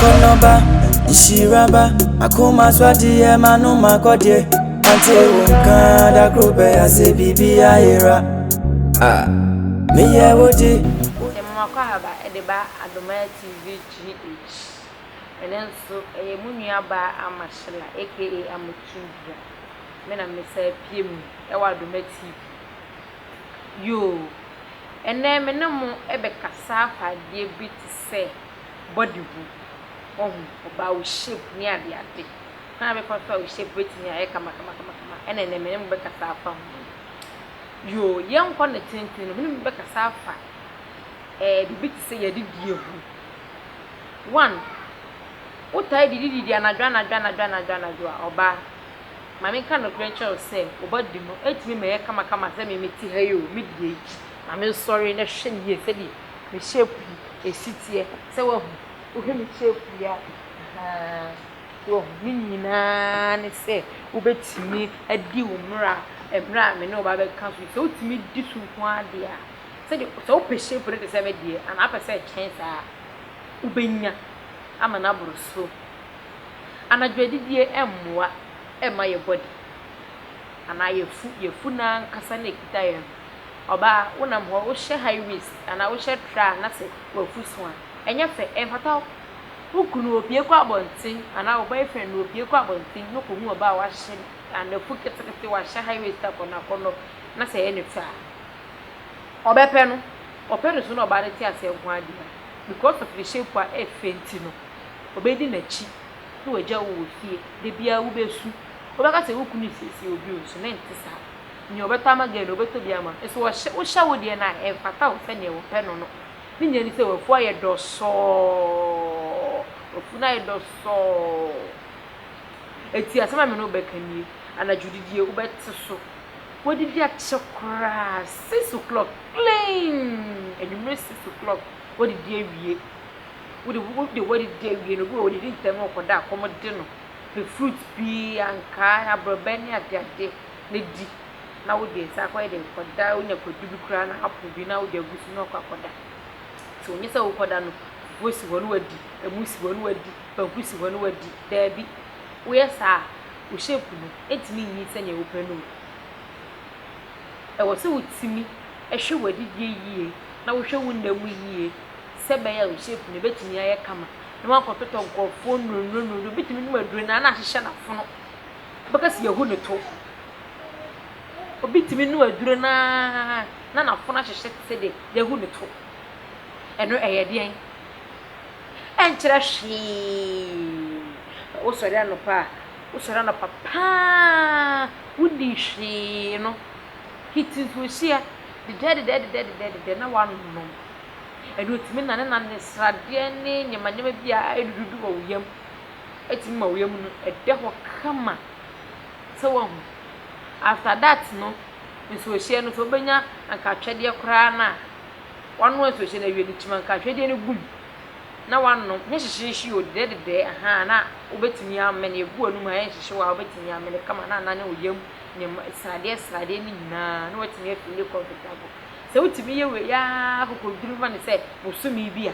Akɔnnɔba, nhyira ba, akoma so adeɛ M'anom akɔdeɛ, mante wo nka Da koro bɛyɛ asɛ biribi ayera ah, Meyɛ wo de, Yɛmema Kwahaba de ba Adomaya TV GH. Ɛno nso ɛyɛ mo nua baa Ama Shella aka Amotumbua. Me na me san pue mu wɔ Adoma TV. Yoo. Ɛnnɛ me ne mo bɛkasa afa adeɛ bi te sɛ. bɔ de gu. Wahu? Ɔbaa wo shape ne adeade. Kwan a mɛfa so a wo shape bɛtumi ayɛ kamakamakama ɛna ɛnɛ me ne mo bɛkasa afa ho no. Yoo, yɛnkɔ no tenten no, me ne mo bɛkasa afa ɛɛ eh, biribi te sɛ yɛadidie ho. One, wotae didididi anadwo anadwo anadwo anadwo anadwo a ɔbaa. Maame nka nokorɛ nkyerɛ wo sɛ, wo body no ɛtumi ma ɛyɛ kamakama sɛ me mete ha yi o, medie yi. Na me nsɔre na hwɛ me yie sɛdeɛ me shape yi ɛsi teɛ sɛ wahu wohwɛ me shape yi a ahaa wahu ne nyinaa ne sɛ wobɛtumi adi wo mmara mmerɛ a me ne wo ba bɛka so sɛ wotumi di so nko ara deɛ a sɛdeɛ sɛ wopɛ shape no te sɛ me deɛ anaa apɛ sɛ ɛkyɛn saa wobɛnya ama no aboro so anadwo adidie mmoa ɛma yɛ body anaa yɛfu yɛfu no ankasa na ɛkita yɛn Ɔbaa, wonam hɔ, wohyɛ high waist anaa wohyɛ tra a na sɛ w'afusu a, ɛnyɛ fɛ, ɛmfata wo. Wo kunu opue kɔ abɔnten anaa wo boyfriend no opue kɔ abɔnten na okohu ɔbaa a wahye n'afu ketekete, wahyɛ high waist akɔnnɔakɔnnɔ na sɛ ɛyɛ ne fɛ a, ɔbɛpɛ no. Ɔpɛ no so na ɔbaa no te aseɛ nko ara deɛ a, because of ne shape a ɛyɛ fɛ nti no, ɔbɛdi n'akyi na wagya wo wɔ fie. Da biara wobɛsu. Wobɛka sɛ wo kunu resiesie wo bio nso na ɛnte saa. Nea ɔbɛtɔ ama gay no, ɔbɛtɔ bi ama no. So ɔhyɛ, wohyɛ wo deɛ no a, ɛmfata wo sɛdeɛ wɔpɛ no no. Ne nyinaa ni sɛ, w'afu ayɛ dɔsɔɔ. W'afu no ayɛ dɔsɔɔ. Enti asɛm a me ne wo bɛka nie, anadwo didie, wobɛte so. Woadidi akyɛ koraa, six o'clock clean, anwummere six o'clock, woadidi awie. Wode, wode woadidi awie no, obi wɔ hɔ, ɔdidi ntɛm na ɔkɔda a, kɔm de no. Pɛ fruit pii, ankaa, aborɔbɛ ne adeade. na di na wode nsa akɔyɛ dɛ kɔda wonya kwadu bi koraa na apow bi na wode agu so na wakɔ akɔda nti ɔnnyɛ sɛ wokɔda no fufuo si hɔ na wadi ɛmo si hɔ na wadi banku si hɔ na wadi daabi woyɛ saa a wo shape no ɛntumi nyi sɛnea wopɛ no o ɛwɔ sɛ wotumi hwɛ w'adidie yie na wohwɛ wo nna mu yie sɛ ɛbɛyɛ a wo shape no ɛbɛtumi ayɛ kama na woankɔtotɔ nkurɔfoɔ nnurunuru nnurunuru wobɛtumi nom aduro no ara na ahyehyɛ n'afono Wobɛka sɛ yɛahu no to. Obi tumi nu aduro no ara na n'afono ahyehye te sɛ deɛ yɛahu no to. Ɛno ɛyɛ deɛn? Ɛnkyerɛ hwee. Wosɔre anɔpa a, wosɔre anɔpa paa, wodi hwee no, hit nsuohyia dedɛɛdedɛɛdedɛɛdedɛɛdedɛ na woanom. Ɛno ɛtumi nanenane sradeɛ ne nneɛma nneɛma bi a ɛdududu wɔ wo yam. tumi ma wia mu no da hɔ kama sɛ woahu. After that no, nsuohyeɛ no sɛ wobɛnya anka atwɛdeɛ koraa no a, woanoa nsuohyeɛ no awie no, kyim anka atwɛdeɛ no gu mu na woanom. Nyɛ hyehyeehye o, dedɛɛ dedɛɛ, ahaa, na wobɛtumi amene, ɛgu w'anum a ɛnhyehye wo a wobɛtumi amene kama na anane wo yam nneɛma, sradeɛ sradeɛ no nyinaa na woatumi a feeli comfortable. Sɛ wotumi yɛ wei ara kɔkɔduru ma no sɛ bosome bi a,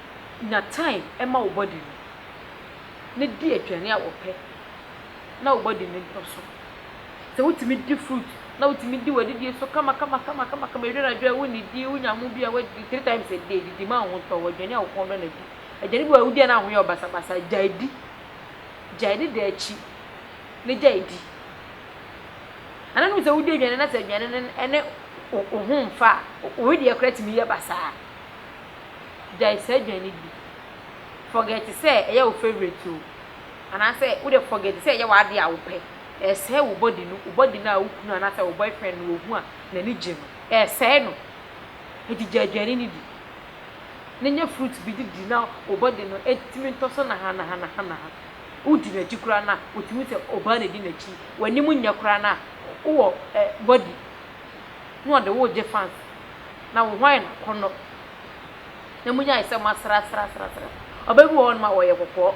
Nya time ma wo body no na di aduane a ɔpɛ na wo body no ntɔ so. Sɛ wotumi di fruit na wotumi di w'adidie so kama kama kama kama kama ɛduru anadwo a wonnidie wonya ho bi a woadi three times a day didi ma wo ho ntɔ wo aduane a wo kɔn dɔ na di. Aduane bi wɔ hɔ a wodi a na wo ho yɛ wo basabasa a gyae di. Gyae ne da akyi na gyae di. Ana wonim sɛ wodi aduane na sɛ aduane no ne wo ho mfa a wo ho deɛ koraa tumi yɛ basaa. gyae saa aduane no di. Forget sɛ ɛyɛ wo favourite o, anaasɛ wo deɛ forget sɛ ɛyɛ w'adeɛ a wopɛ, ɛresɛe wo body no, wo body no a wo kunu anaasɛ wo boyfriend no ɔhu a n'ani gye no, ɛresɛe no. Enti gya aduane no di, na nya fruit bi de di na wo body no atumi ntɔ so nahanahanaha. Wodi n'akyi koraa no a, wotumi hu sɛ ɔbaa na ɛdi n'akyi. W'anim nyɛ koraa no a, wowɔ eh body na ɔde wo regye fancy. na wɔhwan na akɔnnɔ na munyae sɛ moasrasrasrasra? Ɔbaa bi wɔ hɔnom a ɔyɛ kɔkɔɔ,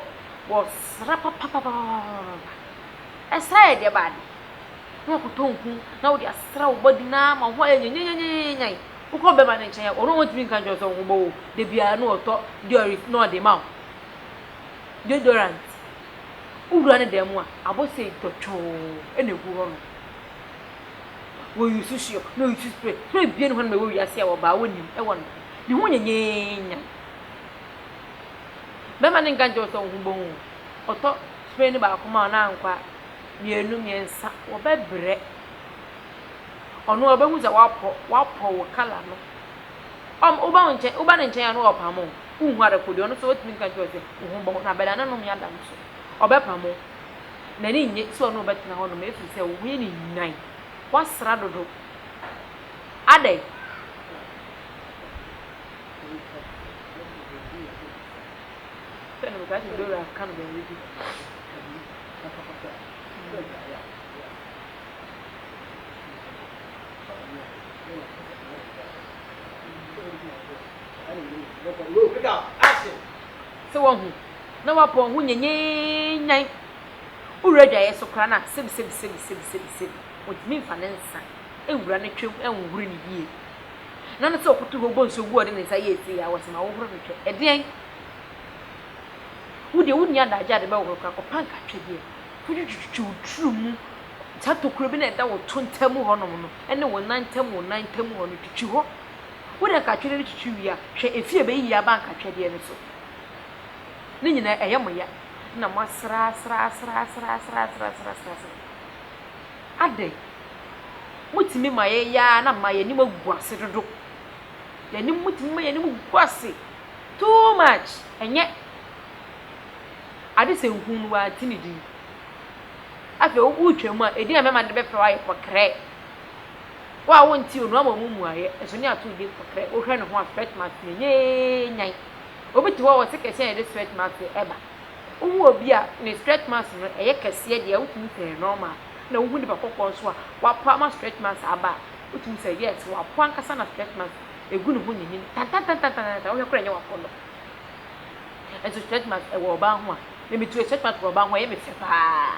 wɔsra papapapapapapa. Ɛsra yɛ deɛ baade na wakɔtɔ nku na wode asra wo bɔdi na ama ho ayɛ nyanyanyanyanyanyan. Wokɔ bɛma ne nkyɛn a, ɔno ɔntumi nka nkyerɛ sɛ ɔho bɔ wo. Da biara na ɔtɔ deorit na ɔde ma wo. Deodorant. Wowura ne dan mu a, abɔ sei dɔtwɔɔ na ɛgu hɔnom. Wɔ use soap na wɔ use spray horow ebien hɔ na ɛwɔ wiase a ɔbaa wonnim ɛwɔ no ne ho nyɛ nyanyanyanyan. Bɛma ne nka nkyɛ ɔsɛ ɔho bɔ ho ɔtɔ spray no baako ma ɔna nkwa mmienu mmiɛnsa wɔ bɛ brɛ ɔno a ɔbɛ hu sɛ wapɔ wapɔ wɔ kala no ɔm ɔba wo nkyɛn ɔba ne nkyɛn a no wɔ pamo wo hu adako deɛ ɔno so ɔtumi nka nkyɛ ɔsɛ ɔho bɔ ho na bɛda ne nom yɛ ada no so ɔbɛ pamo n'ani nnye sɛ ɔne wo bɛtena hɔnom ɛfiri sɛ wo ho yɛ no nyan, woasra dodo. Adɛn? Sɛ no metaa te Dora ka no baabi bi. Pick up. Action. Sɛ woahu na woapa wo ho nyanyannyan, wowura adwaeɛ so koraa no a, sɛbisɛbisɛbisɛbisɛbi, ɔntumi mfa ne nsa nwura ne twam nhohoro no yie. Ɛnam ne sɛ ɔkoto hɔ bɔ nsuo gu a ɔde ne nsa yɛ tii a, wɔse ma wohoro no twɛ. Ɛdeɛn? Wo deɛ wonni adagyeɛ a wode bɛhohoro koraa, kɔpa nkatwedeɛ fa twitwitwitwi wo tiri mu, saa tokuro bi no a ɛda wo to ntam hɔnom no ne wo nan ntam wo nan ntam hɔ no, twitwi hɔ. Wode nkatwedeɛ no twitwi wie a, hwɛ efie a ɛbɛyiyi aba nkatwedeɛ no so. Ne nyinaa ɛyɛ mo ya na moasrasrasrasrasrasrasrasrasra. Adɛn? Motumi ma yɛyɛ ara na ma yɛn anim agu ase dodo. Yɛn anim, motumi ma yɛn anim gu ase too much. Ɛnyɛ ade sɛ nhu no wante ne din. Afei wotwam a, edin a mɛma no de bɛfrɛ wo ayɛ kɔkrɛ. Wo a wonte onua ma ɔmo mmuaeɛ, nso ne atoode kɔtrɛ, wo hwɛ ne ho a sweat mask na ɛnyɛ ee nyan. Obi te hɔ a ɔse kɛseɛ na ɛde sweat mask ɛba. Wo hu obi a ne sweat mask no ɛyɛ kɛseɛ deɛ a wotumi hu sɛ ɛyɛ normal na wo hu nipa kɔkɔɔ nso a wapo ama sweat mask aba a wotumi hu sɛ yes wapo ankasa na sweat mask ɛgu ne ho nyinyin tantantantantantantan wohwɛ koraa ɛnyɛ wapondɔ. Nso sweat mask ɛwɔ ɔbaa ho a, me me try sweat mask wɔ ɔbaa ho a ɛyɛ me fɛ paa.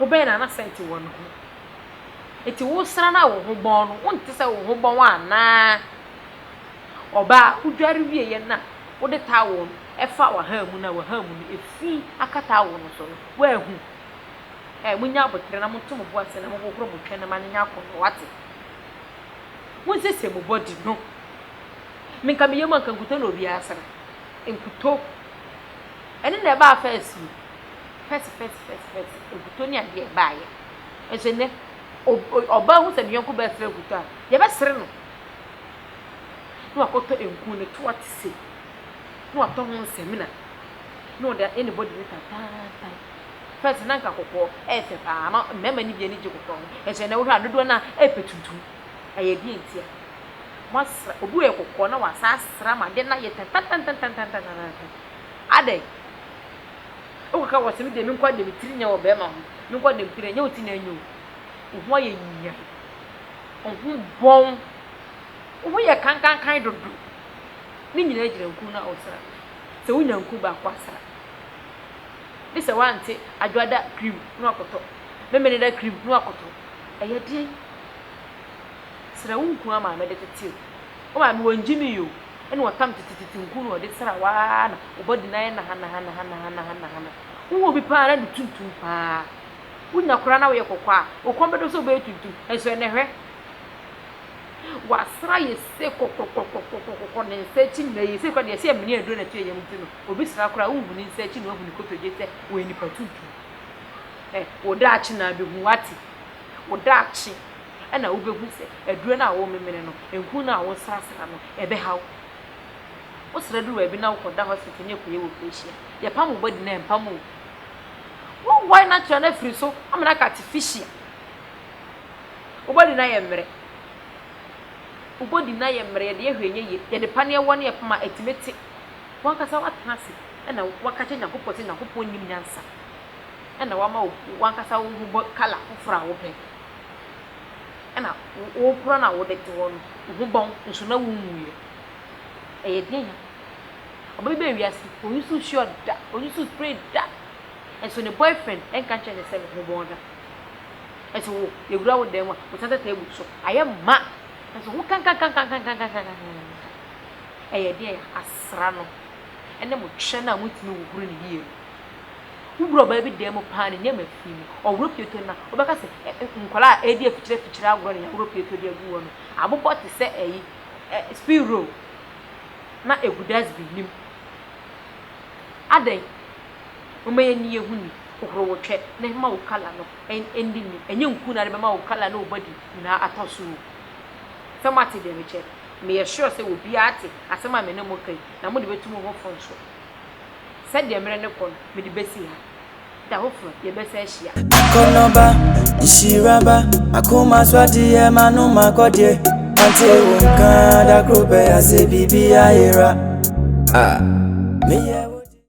wobɛyɛ na na sɛnti wɔ ne ho. Enti wosra no a wo ho bɔn no, wonte sɛ wo ho bɔn wo anaa? Ɔbaa a wodware wieeɛ no a wode towel no fa w'ahamu no a w'ahamu no fi aka towel no so no, woahu? Ɛɛ, monyɛ aboterɛ na moto mo bo ase na mohohoro mo twene ma no nyɛ akɔnnɔ, wate? Monsiesie mo body no. Me nka me yam a nka nkutoo na obiara sra. Nkutoo. Ɛno na ɛbaa fɛs no. Fɛs fɛs fɛs fɛs nkutoo ne adeɛ a ɛbaeɛ. Nso nnɛ, ɔbaa hu sɛ ne yɔnko baa srɛ nkutoo a, yɛbɛsere no. Na wakɔtɔ nku ne toa te se. Na watɔ ho nsamina. Na ɔde ayɛ ne bɔde no tataatan. Fɛs na nka kɔkɔɔ ɛyɛ fɛ paa ma mmarima no bi ani gye kɔkɔɔ ho. Nso nnɛ wohwɛ a dodoɔ no ara ɛpɛ tuntum. Ɛyɛ deɛ ntia. Wasra, obi yɛ kɔkɔɔ na wasan asra ama adeɛ no ayɛ tatatantantantantantantan. Adɛn? Wokɔ ka wɔ se me deɛ me nkɔ de me tiri nyɛ wɔ bɛɛma ho, me nkɔ de me tiri nyɛ wo ti na nyɛ o. Wo ho ayɛ nyiae. Wo ho bɔn. Wo ho yɛ kankankan dodo. Ne nyinaa gyina nku no a wosra. Sɛ wonya nku baako asra. Ne sɛ woante adwoada cream na wakɔtɔ, memeneda cream na wakɔtɔ. Ɛyɛ deɛn? Sra wo nku a maame de tete o. Wo maame wangye me yi o. ɛna ɔtam titititi nku na ɔde sra wo ara na wo body no ayɛ nahanahanahanahanahanahana. Wohu obi paa na ne tuntum paa. Wonya koraa na woyɛ kɔkɔɔ a, wo kɔn bɛdɔ sɛ wobɛyɛ tuntum. Nso ɛnnɛ hwɛ. Wasra yɛ se kɔkɔkɔkɔkɔkɔkɔ ne nsa akyi nyinaa yɛ se koraa deɛ ɛsɛ yɛ mene aduro no to yɛ yam nti no obi sra koraa wonhu ne nsa akyi na wahu ne kotodwe sɛ ɔyɛ nipa tuntum. Eh, wo daakye na abɛhu wate. Wo daakye Ɛnna wubehu sɛ aduru no a worememene no, nku no a woresrasra no, ɛbɛhaw wo. Wosrɛ duru baabi na wokɔda hospital ne akuayɛ wɔ fie hyia. Yɛpam wo body no a, ɛmpam wo. Wonwae natural no afiri so ama no aka artificial. Wo body no ayɛ mmerɛ. Wo body no ayɛ mmerɛ, yɛde ɛhwɛ ɛnyɛ yie. Yɛde paneɛ wɔ ne yɛpam a, ɛtumi te. W'ankasa woatena ase na woaka akyerɛ Nyankopɔn sɛ Nyankopɔn nim nyansa na wama wo w'ankasa wo ho bɔ colour foforɔ a wopɛ. ɛna wokura na wode to hɔ no, wo ho bɔn nso na wonwuiɛ. Ɛyɛ den a, ɔba bi baa wiase, ɔnyi so sure da, ɔnyi so spray da, nso ne boyfriend nka nkyerɛ ne sɛ ne ho bɔn da. Nso wo, yɛwura wo dan mu a, wosan sɛ table so, ayɛ ma, nso ho kankankankankankankankankan. Ɛyɛ den a, asra no ne mo kyɛ no a motumi hohoro ne yie no. Wobrɛ ɔbaa bi dan mu paa a ne nneɛma fi mu. Ɔworɔ pieto no a, wobɛka sɛ ɛ ɛ nkwadaa a ɛredi afikyirafikyire agorɔ na yɛaworɔ pieto de agu hɔ no abobɔ te sɛ ɛyi ɛ spring roll na ɛgu dustbin no mu. Adɛn? Momma yɛnni yɛn ho ni. Hohoro wo twɛ na mma wo kala no nni ni. Ɛnyɛ nku na wode bɛma wo kala ne wo body nyinaa atɔ so o. Sɛ moate deɛ mekyerɛ no, meyɛ sure sɛ obiara ate asɛm a me ne mo reka yi, na mode bɛtu mo ho fo nso. Sɛdeɛ mmerɛ no kɔ no, mede bɛsi ha. Da foforɔ, yɛbɛsan ahyia. Akɔnɔba, nhyira ba, akoma so adeɛ M'anom akɔdeɛ, mante wo nka Da koro pɛ asɛ biribi ayera ah, meyɛ